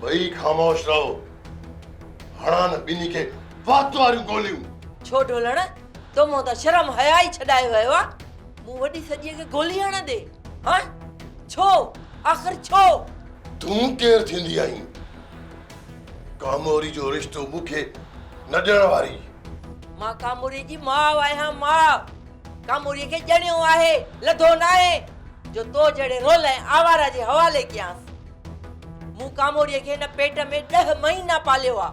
ٻئي خاموش رهو. هڻان ٻنهي کي وات واريون گوليون. ڇو ڍولڻ، تو مان ته شرم حيا ئي ڇڏائي ويو آ. مون وڏي سڄيء کي گولي هڻندي، ها؟ ڇو؟ آخر ڇو؟ تون ڪير ٿيندي آهين، ڪاموري جو رشتو مون کي نه ڏيڻ واري؟ مان ڪاموري جي ماء آهيان، ماء. ڪاموريء کي ڄڻيو آهي، لڌو ناهي، جو تو جهڙي رول ۽ آواره جي حوالي ڪيانس. مون ڪاموريء کي هن پيٽ ۾ ڏهه مهينا پاليو آ.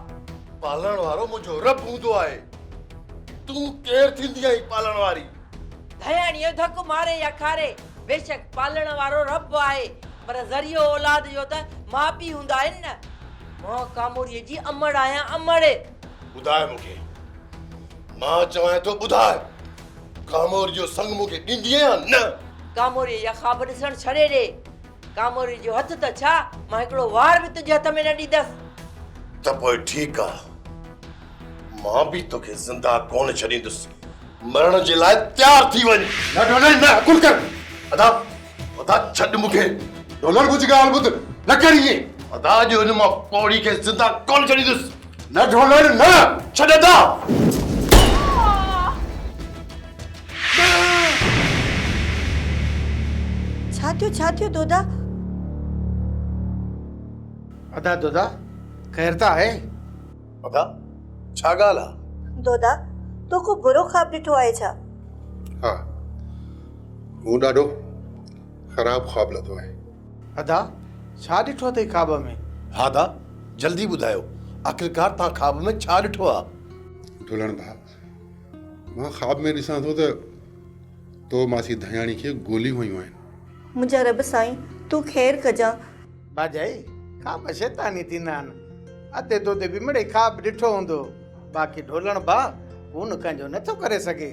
پالڻ وارو منهنجو رب هوندو آهي. تون ڪير ٿيندي آهين پالڻ واري؟ ڌياڻيء ڌڪ ماري يا کاري، بيشڪ پالڻ وارو رب آهي، پر ذريعو اولاد جو ته ماء پيء هوندا آهن نه. مان ڪاموريء جي امڙ آهيان، امڙ! ٻڌاء مون کي. مان چوانء ٿو ٻڌاء، ڪاموريء جو سڱ مون کي ڏيندينء يا نه؟ ڪاموريء جا خواب ڏسڻ ڇڏي ڏي. ڪاموري جو هٿ ته ڇا، مان هڪڙو وار به تنهنجي هٿ ۾ نه ڏيندس. ته پوء ٺيڪ آ، مان به توکي زنده ڪونه ڇڏيندس، مرڻ جي لاء تيار ٿي وڃ. نه ڊونلڊ نه، حڪم ڪر. ادا، ادا ڇڏ مون کي. ڊونلڊ منهنجي ڳالهه ٻڌ، نه ڪر ائين. ادا اڄ هن مان پوڙهي کي زنده ڪونه ڇڏيندس. نه ڍولڻ نه ڇڏندا. ڇا ٿيو ڇا ٿيو دودا. ادا دودا خير ته آهي. ادا ڇا ڳالهه آ. دودا تو ڪو برو خواب ڏٺو آهي ڇا. ها مون ڏاڍو خراب خواب لڌو آهي. ادا ڇا ڏٺو اٿئي خواب ۾. ها ادا جلدي ٻڌايو آخرڪار توهان خواب ۾ ڇا ڏٺو ها. ڍولڻ ڀاء مان خواب ۾ ڏسان ٿو ته تو ماسي ڌڻياڻي کي گوليون هنيون آهن. منهنجا رب سائين تون خير ڪجان. باجائي خواب شيطاني ٿيندا آهن ادي تو تي به مڙئي خواب ڏٺو هوندو باقي ڍولڻ ڀاء هون نڪنجو نٿو ڪري سگهي.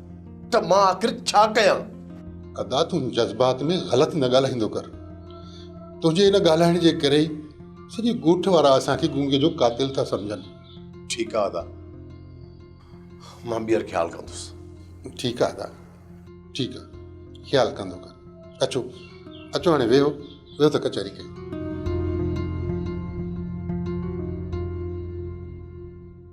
ته مان آخر ڇا ڪيان؟ ادا تون جذبات ۾ غلط نه ڳالهائيندو ڪر. تنهنجي ان ڳالهائڻ جي ڪري ئي سڄي ڳوٺ وارا اسان کي گونگي جو قاتل ٿا سمجهن. ٺيڪ آ ادا. مان ٻيهر خيال ڪندس. ٺيڪ آ ادا. ٺيڪ آ. خيال ڪندو ڪر. اچو. اچو هاڻي ويهو. ويهو ته ڪچهري ڪيون.